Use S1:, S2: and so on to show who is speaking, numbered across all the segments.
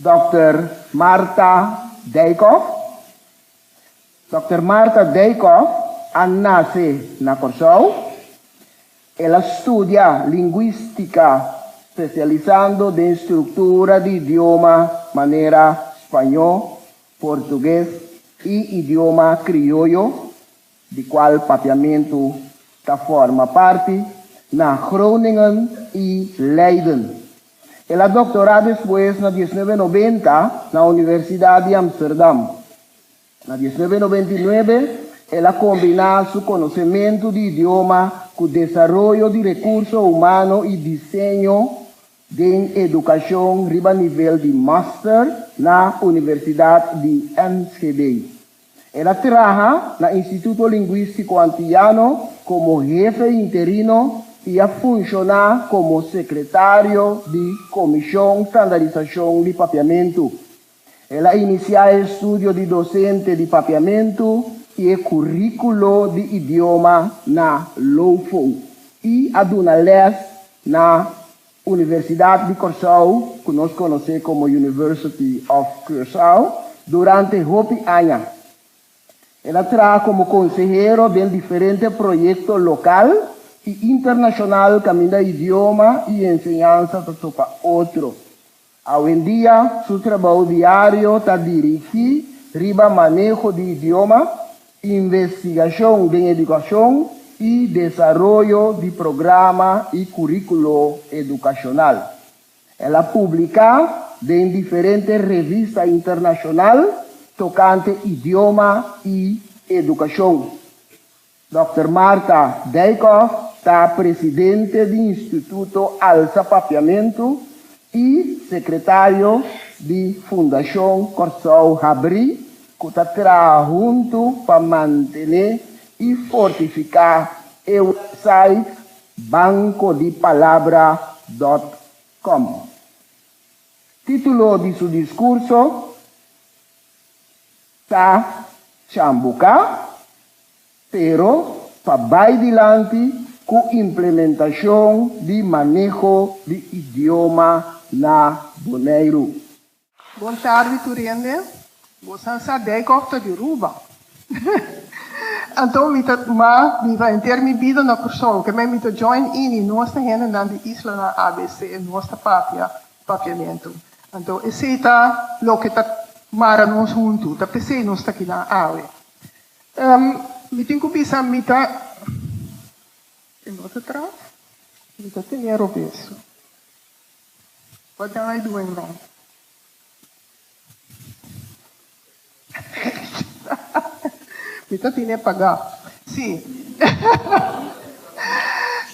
S1: Dòkter Martha Dijkhoff Dòkter Martha Dijkhoff a nase na Kòrsou. El a studia Linguístika spesialisando den struktura di idioma manera spañó, portugues i idioma krioyo di cual Papiamentu ta forma parti, na Groningen y Leiden. El a doctora despues na diecinuebe noventa na Universidad di Amsterdam. Na diecinuebe noventa y nuebe el a combina su conocemento di idioma cu desaroyo di recurso humano y diseño den educacion riba nivel di master na Universidad di Enschede. El a traha na Instituto Lingüístico Antillano como hefe interino y a funciona como secretario di Comision Standarisacion di Papiamentu. El a inicia e estudio di docente di Papiamentu y e curiculo di idioma na Lofo y a duna les na. Universidat di Kòrsou, ku nos konosé komo University of Curaçao, durante hopi aña. El a traha komo konsehero den diferente proyekto lokal i internashonal kaminda idioma i enseñansa ta topa otro. Awendia su trabou diario ta dirigí riba maneho di idioma, investigashon den edukashon i desaroyo di programa i kuríkulo edukashonal. El a publiká den diferente revista internashonal tokante idioma i edukashon. Dòkter Martha Dijkhoff ta presidente di Instituto Alza Papiamentu i sekretario di Fundashon Kòrsou Habrí ku ta traha huntu pa mantené i fortifiká e wèpsait bankodipalabra dòt kòm. Título di su diskurso. Ta chambuka, pero pa bai dilanti ku implementashon di maneho di idioma na Boneiru. Bon tardi tur hende. Bo san sa Dijkhof ta di Ruba. Anto mi ta ma mi ta henter mi bida na Kursou. Kemey mi ta join ini nos ta hendenan di islanan abc, nos ta papia. Papiamentu. Anto esei ta loke ta mara nos huntu, ta p'esei nos ta kinan awe. Mi tin ku bisa mi ta den otro traf, mi ta tene robesu. Wak den ai duen nan? Mi ta tine pagá. Sí.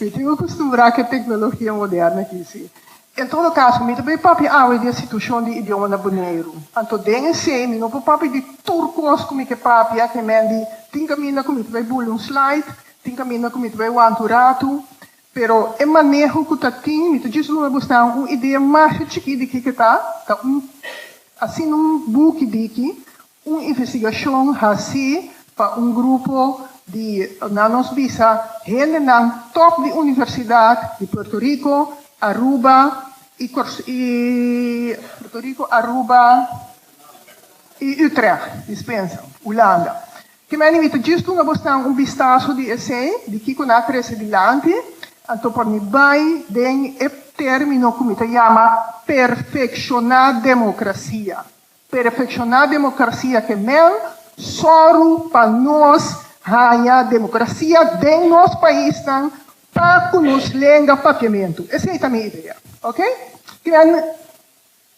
S1: mi tin akustumbrá ku e teknologia moderno akí, sí. En todo kaso, mi ta bai papia awe di e situashon di idioma na Boneiru. Anto den esei mi no por papia di tur kos ku mi ke papia, kemende tin kaminda ku mi ta bai bula un slide, tin kaminda ku mi ta bai wanta un ratu, Pero e maneho ku ta tin, mi ta djis rumi bo snan un idea masha chikí di kiko ta, ta un asina un buki di ki un investigashon hasí pa un grupo di, nan nos bisa, hendenan top di universidat di Puerto Riko, Aruba i Puerto Riko, Aruba i Utrecht, dispensa, Ulanda. Ki mene mi ta djis dunga bosnan un bistaso di esei, di kiko nan a trese dilanti, anto por mi bai den e termino ku mi ta yama perfekshoná demokrasia. Perfekshoná demokrasia ke mel sòru pa nos haña demokrasia den nos paisnan pa ku nos lenga papiamentu. Esei ta mi idea. Oke. Ki mene.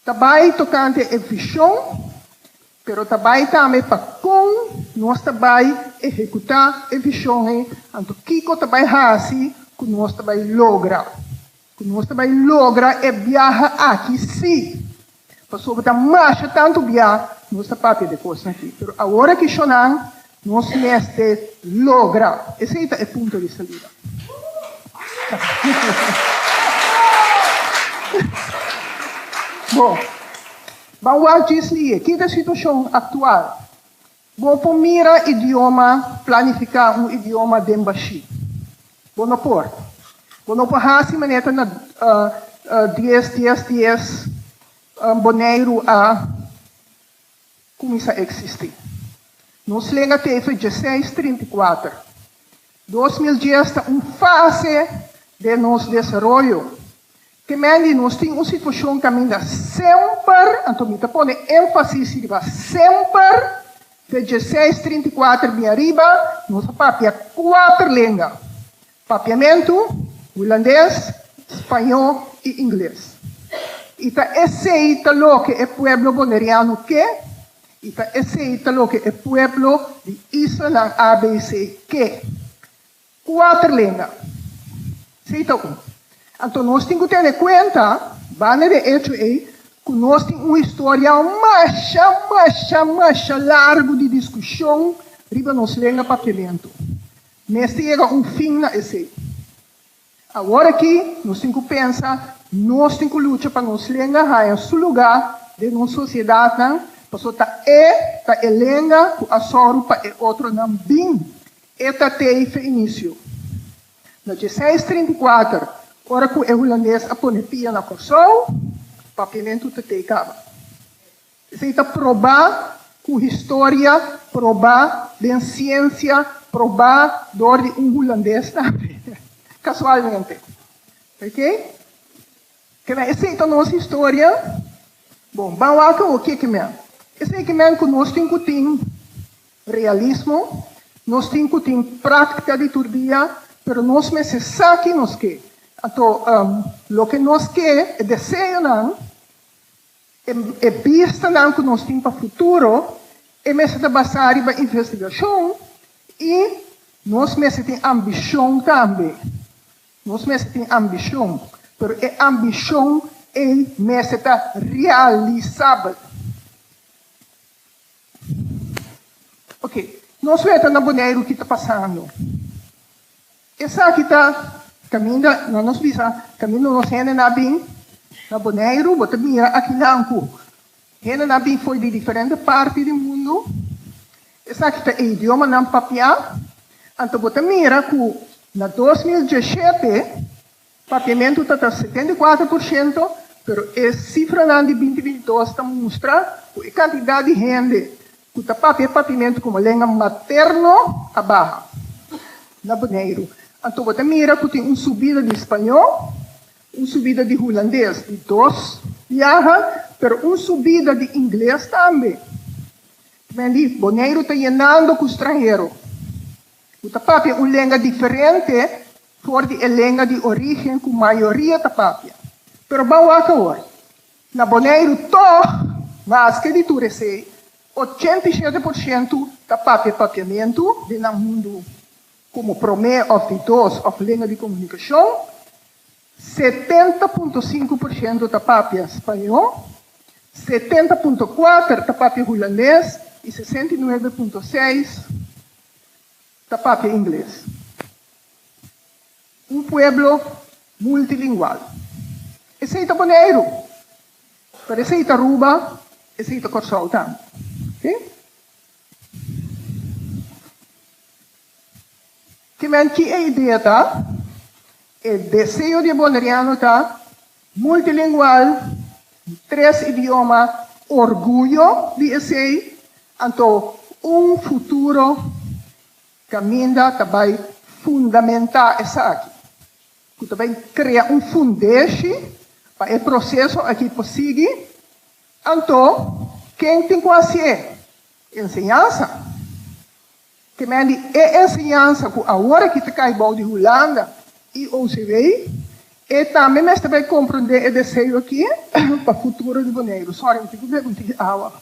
S1: Ta bai tokante e vision, pero ta bai tambe pa kon nos ta bai ehecuta e vision ei, anto kico ta bai haci cu nos ta bai logra, cu nos ta bai logra e biaha aki si, pasobra ta masha tanto bia nos ta papia de cosnan aki, pero awor aki Shonan Nos mester logra. Esei ta e punto di salida. Bo ban wak djis liye kin ta e situashon aktual. Bo por mira idioma, planifiká un idioma den bashí? Bo no por. Bo no por hasi maneta na dies, dies, dies, Boneiru a. kuminsá eksistí. Nos lenga ta e fei djeseis trinta i kuater. Dos mil dies ta un fase den nos desaroyo. Temendi nos tin un situashon kaminda semper, anto mi ta pone énfasis riba semper, fei djeseis trinta i kuater bin ariba nos a papia kuater lenga. Papiamentu, Hulandes, Spañó i Ingles. I ta esei ta loke e pueblo Boneriano ke, i ta esei ta loke e pueblo di islanan ABC ke. Kuater lenga. Esei ta un. Anto nos tin ku tene kuenta, banda den echo ei, ku nos tin un historia masha, masha, masha largu di diskushon riba nos lenga Papiamentu. Mester yega un fin na esei. Awor aki nos tin cu pensa, nos tin cu lucha pa nos lenga haya su luga den nos sociedadnan, paso ta e ta e lenga cu a soru pa e otronan bin e tatei feinicio. Na djeseis trinta i kuater, ora cu e Hulandes a pone pia na Corsou, Papiamentu Tatei caba. Esei ta probá ku historia, probá den siensia, probá dor di un hulandes tambe, kasualmente. Ok? Kila esei ta nos historia. Bon, ban wak awor ke kimen. Esei kimen ku nos tin ku tin realismo, nos tin ku tin práktika di tur dia, pero nos mester sa ken nos ke. Anto loke nos ke, e deseonan, E bistanan ku nos tin pa futuro, e mester ta basá riba investigashon i nos mester tin ambishon tambe. Nos mester tin ambishon, pero e ambishon ei mester ta realisabel. Oke, nos wenta na Boneiru ki ta pasando. Esaki ta caminda na nos bisa, caminda nos hende na bin na Boneiru, bo ta mira akinan cu hende na bin fo'i di diferente parti di mundo, esaki ta e idioma nan papia, anto bo ta mira cu na dos mil diesshete, Papiamentu ta ta setenta i kuater por shento, pero e sifranan di binti binti dos ta mustra ku e kantidat di hende ku ta papia papiamentu komo lenga materno a baha na Boneiru. Anto bo ta mira ku tin un subida di spañó, un subida di hulandes di dos biaha, pero un subida di ingles tambe. Por ende, Boneiru ta yenando ku stranhero. Ku ta papia un lenga diferente for di e lenga di origen ku mayoria ta papia. Pero ban wak awor. Na Boneiru tòg, maske di tur esei, ochenta i shete por shentu ta papia papiamentu den nan mundu komo promé òf di dos òf lenga di komunikashon, setenta punto sinku por shentu ta papia spañó, setenta punto kuater ta papia hulandes i sesenta i nuebe punto seis ta papia ingles. Un pueblo multilingual. Esei ta Boneiru, pero esei ta Aruba, esei ta Kòrsou tambe. Oke. Kimen, ki e idea ta? E deseo di e Boneriano ta. Multilingual, tres idioma, orguyo di esei, anto un futuro caminda ta bay fundamenta esaki, cu ta bay crea un fundeshi pa e proceso aki por sigui, anto ken tin cu hacié? Enseñansa. Temendi e enseñansa ku aworaki ta kai bou di Hulanda i OCW, e tambe mester bai komprondé e deseo aki pa futuro di Boneiru. Sòri, mi tin ku bebe un tiki awa.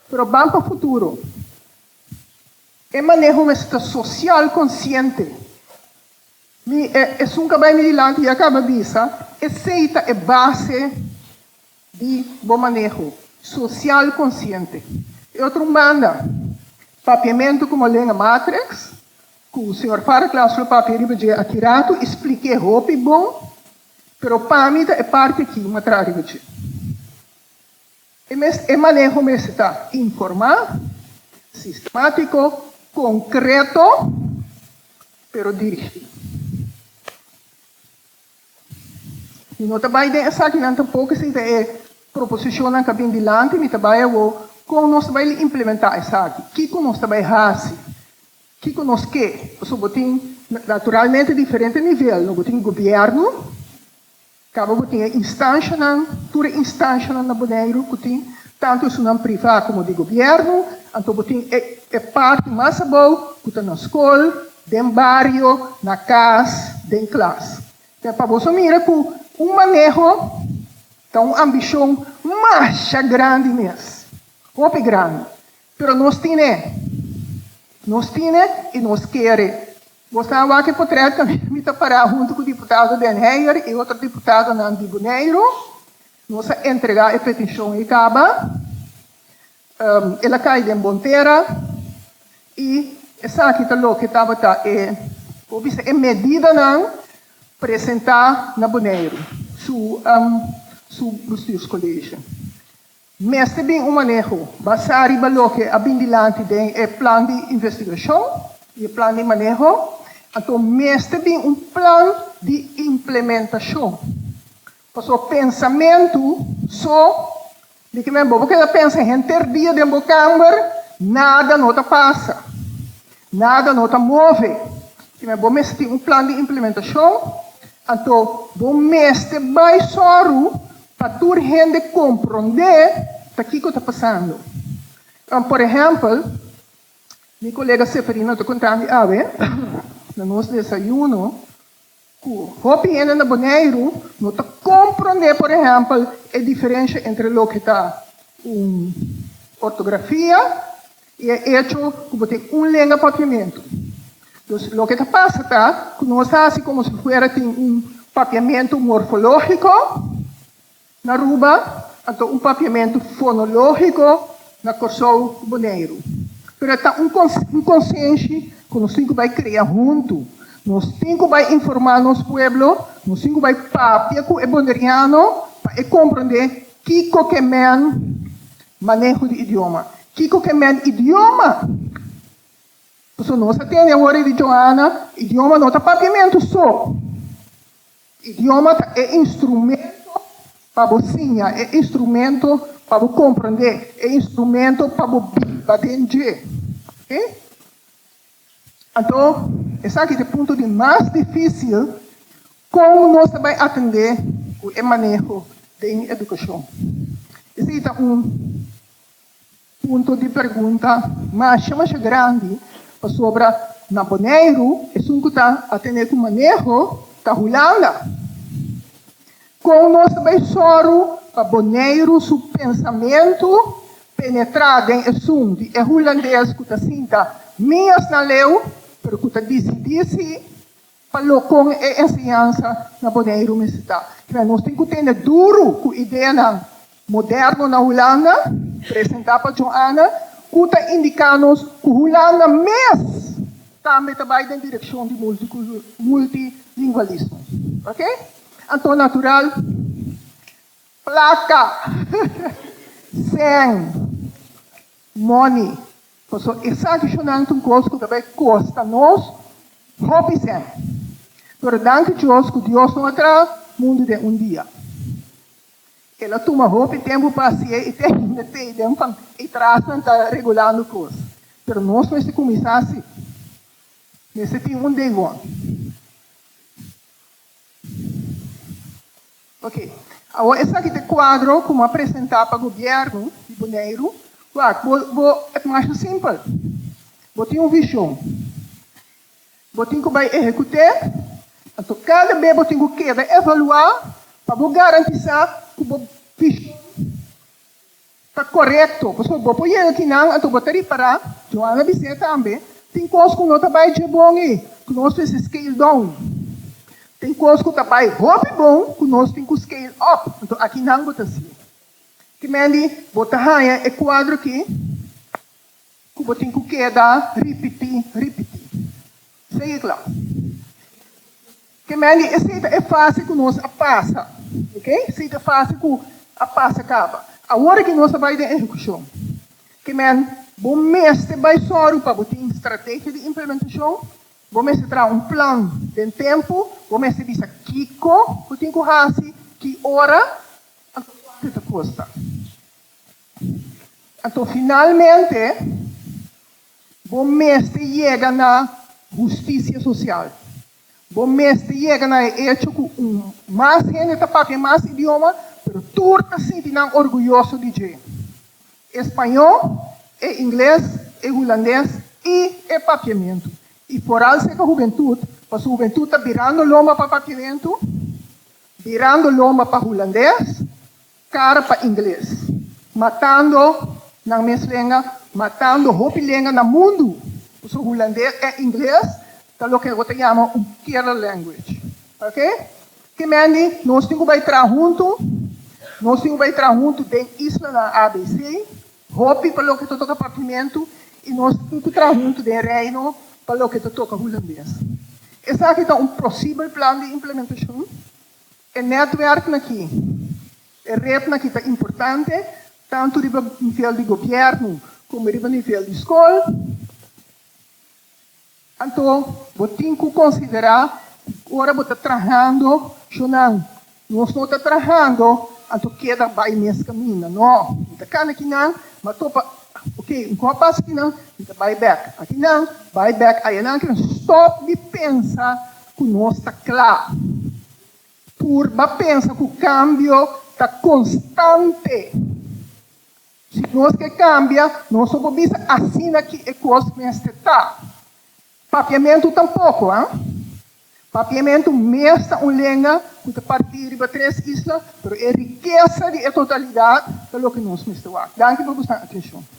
S1: Pero ban pa futuro. E maneho mester ta sosial konsiente. Mi, esun ka bai mi dilanti, ya kaba bisa, esei ta e base di bo maneho sosial konsiente. E otro un banda, papiamentu komo lenga matreks, ku señor Farklas lo papia riba dje akiratu i splik'é hopi bon, pero pa mi ta e parti akí un a traha riba dje. E mes e maneho mester ta informá, sistemátiko, konkreto, pero dirigí. Mi no ta bai den esakinan tampoco sinta e proposicionnan ka bin dilanti. Mi ta bai awor con nos ta bai li implementa esaki. Kico nos ta bai haci? Kico nos ke? Pasobra bo tin naturalmente diferente nivel, no? Bo tin gobierno, caba bo tin e instancianan, tur e instancianan na Boneiru cu tin Tantu esnan privá komo di gobièrnu, anto bo tin e e parti mas abou ku ta na skol, den bario, na kas, den klas. Te pa boso mira ku un maneho ta un ambishon masha grandi mes, hopi grandi. Pero nos tin e. Nos tin e i nos keer e. Bo sta wak e potrèt, mi ta pará huntu ku Diputado Den Heyer i otro diputadonan di Boneiru, Nos a entregá e petishon ei kaba, el a kai den bon tera, i esaki ta loke tabata e, bo bisa, e medidanan presentá na Boneiru, su su bestuurskolege. Mester bin un maneho basá riba loke a bin dilanti den e plan di investigashon i e plan di maneho, anto mester bin un plan di implementashon. Pasobra pensamentu so di ke men bo por keda pensa henter dia den bo kamber, nada no ta pasa, nada no ta move. Si men bo mester tin un plan di implementashon, anto bo mester bai sòru pa tur hende komprondé ta kiko ta pasando. Por ehèmpel, mi kolega Seferino ta konta mi awe na nos desayuno, Ku hopi hende na Boneiru no ta komprondé, por ehèmpel, e diferensha entre loke ta un ortografia i e echo ku bo tin un lenga papiamentu. Dus loke ta pasa ta ku nos hasi komo si fuera tin un papiamentu morfológiko. Na Aruba, a ta un papiamentu fonológiko na Kòrsou ku Boneiru. Pero e ta un un konsenshi ku nos tin ku bai krea huntu. Nos tin ku bai informá nos pueblo, nos tin ku bai papia ku e boneriano pa e komprondé kiko ke men maneho di idioma, kiko ke men idioma. Pasobra nos a tende awor e di Joana, idioma no ta papiamentu so. Idioma ta e instrumento pa bo siña, e instrumento pa bo komprendé, e instrumento pa bo biba den dje. Oke? Anto, esaki ta e punto di mas difísil, kon nos ta bai atendé ku e maneho den edukashon. Esei ta un. Punto di pergunta masha masha grandi pasobra na Boneiru esun ku ta a tene ku maneho ta Hulanda. Kon nos ta bai sòru pa Boneiru su pensamentu penetrá den esun di e hulandes ku ta sinta mi asnan leu pero ku ta disidí si Pa lo con e enseñansa na Boneiru mester ta? Kibera nos tin cu tende duru cu ideanan moderno na Hulanda, presenta pa Joanna, cu ta indica nos cu Hulanda mes tambe ta bay den direccion di multilingualismo. Ok? Anto natural, placa. Sen. Money, paso esaki shonantu un kos ku ta bai kosta nos hopi sent. Pero danki Dios ku Dios no a traha mundu den un dia. El a tuma hopi tempu pa hasié i te hinda t'ei den van e trasnan ta regulando kos. Pero nos mester kuminsá así. Mester tin un deigon. Ok, awor esaki ta e kuadro ku m'a presentá pa gobièrnu di Boneiru. Wak, bo, bo, e ta masha simpel. Bo tin un vishon. Bo tin ku bai ehekut'é. Anto kada be bo tin ku keda evaluá pa bo garantisá ku bo vishon. Ta korekto, pasobra bo por yega kinan, anto bo ta ripará, Joan a bis'é tambe, tin kos ku no ta bai dje bon ei, ku nos mester scale down. Tin kos ku ta bai hopi bon ku nos tin ku scale up. Anto a kinan bo ta si. Kimendi bo ta haña e kuadro akí ku bo tin ku keda ripití, ripití. Regla. Gemelli, esei ta e fase ku nos a pasa, ok? Esei ta e fase ku a pasa kaba. Awor aki nos a bai den ehekushon. Gemel, bo mester bai sòru pa bo tin strategia di implementashon, bo mester traha un plan den tempu, bo mester bisa kiko bo tin ku hasi, ki ora, anto kuantu e ta kosta. Anto finalmente. Bo mester yega na husticia social. Bo mester yega na e hecho cu un mas hende ta papia e mas idioma, pero tur ta sinti nan orguyoso di dje. E spañol, e ingles, e hulandes y e papiamentu. Y foral seca hubentud, pasobra hubentud ta birando lomba pa papiamentu, birando lomba pa hulandes, Kara pa ingles. Matando nan mes lenga, matando hopi lenga na mundu. Pasobra hulandes en ingles ta loke bo ta yama un killer language. Ok? Ke mendi nos tin ku bai traha huntu, nos tin ku bai traha huntu den islanan abc, hopi pa loke ta toka partimentu i nos tin ku traha huntu den reino pa loke ta toka hulandes. Esaki ta un posibel plan di implementashon E netwerknan aki, e retnan aki ta importante tantu riba nivel di gobièrnu komo riba nivel di skol. Anto bo tin ku konsiderá ku ora bo ta trahando shonnan nos no ta trahando, anto keda bai mes kaminda. No, mi ta kana kinan, mi a topa, ok, un kò pas kinan, mi ta bai bèk. Akinan bai bèk, ayanan akinan stòp di pensa. Ku nos ta kla. Purba pensa ku kambio ta konstante. Si nos ke kambia, nos no por bisa asina ki e kos mester ta. Papiamentu tampoko, a. Papiamentu mes ta un lenga ku ta parti riba tres isla, pero e rikesa di e totalidat ta loke nos mester wak. Danki por bo stan atenshon.